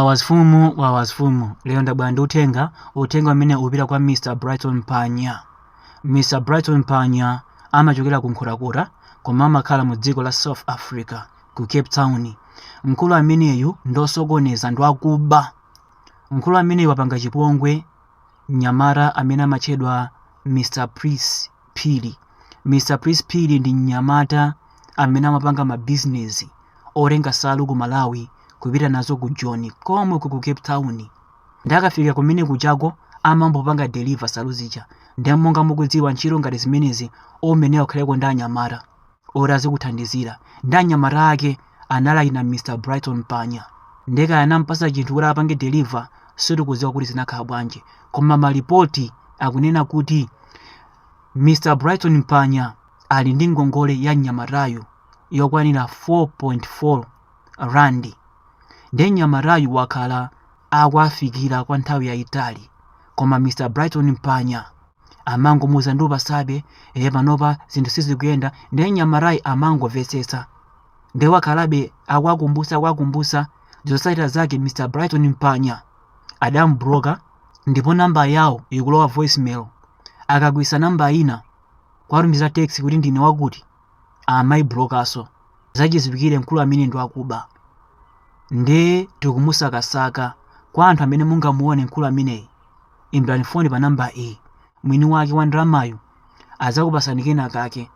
Wawazfumu wawazfumu lero ndabwera ndi uthenga uthenga umene upita kwa Mr Brighton Mpanya Mr Brighton Mpanya amachokera ku Nkhotakota koma amakhala mu dziko la South Africa ku Cape Town mkulu ameneyu ndosokoneza ndi wakuba mkulu ameneyu wapanga chipongwe mnyamata amene amatchedwa Mr Prince Phiri. Mr Prince Phiri ndi mnyamata amene amapanga mabizinezi otenga nsalu ku Malawi kupita nazo ku Joni komwe ku Cape Town. Ndi akafika kumene kujako amambopanga deliver nsalu zija. Ndiye monga mukudziwa ntchito ngati zimenezi umayenera ukhaleko ndi anyamata. oti azikuthandizira ndi anyamata ake analinya mr brighton mpanya nde kaya anampasa chinthu kuti apange deliver sitikudziwa kuti zinakhala bwanji koma malipoti akunena kuti mr brighton mpanya ali ndi ngongole ya mnyamatayu yokwanira 4.4 randi ndiye mnyamatayu wakhala akuwafikira kwa nthawi yayitali koma mr brighton mpanya amangomuuza ndikupatsabe e panopa zinthu sizikuyenda ndiye mnyamatayi amangomvetsetsa ndiye wakhalabe akuwakumbutsa akuwakumbutsa zotsatira zake mr brighton mpanya adamubloka ndipo namba yawo ikulowa voicemail akagwiritsa namba ina kuwatumizira text kuti ndine wakuti amaiblokanso zachidziwikire mkulu amene ndi wakuba nde tikumusakasaka kwa anthu amene mungamuone mkulu ameneyi imbirani foni pa namba iyi mwini wake wa ndalamayu adzakupatsani kena kake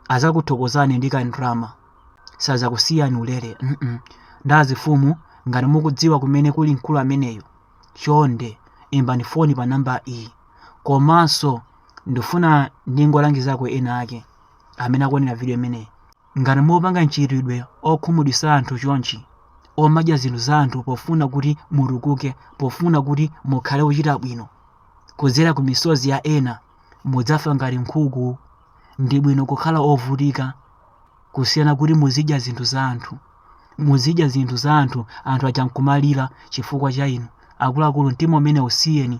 adzakuthokozani ndi kandalama sadzakusiyani ulere mm -mm. ndazifumu ngati mukudziwa kumene kuli mkulu ameneyu chonde imbani foni pa namba iyi komanso ndifuna ndingolangizako ena ake amene akuonera video imeneyi ngati mupanga mchitidwe okhumudwitsa anthu chonchi omadya zinthu za anthu pofuna kuti mutukuke pofuna kuti mukhale ochita bwino kudzera ku misozi ya ena mudzafa ngati nkhuku ndi bwino kukhala ovutika kusiyana kuti muzidya zinthu za anthu muzidya zinthu za anthu anthu aja nkumalira chifukwa cha inu akuluakulu mtima umene usiyeni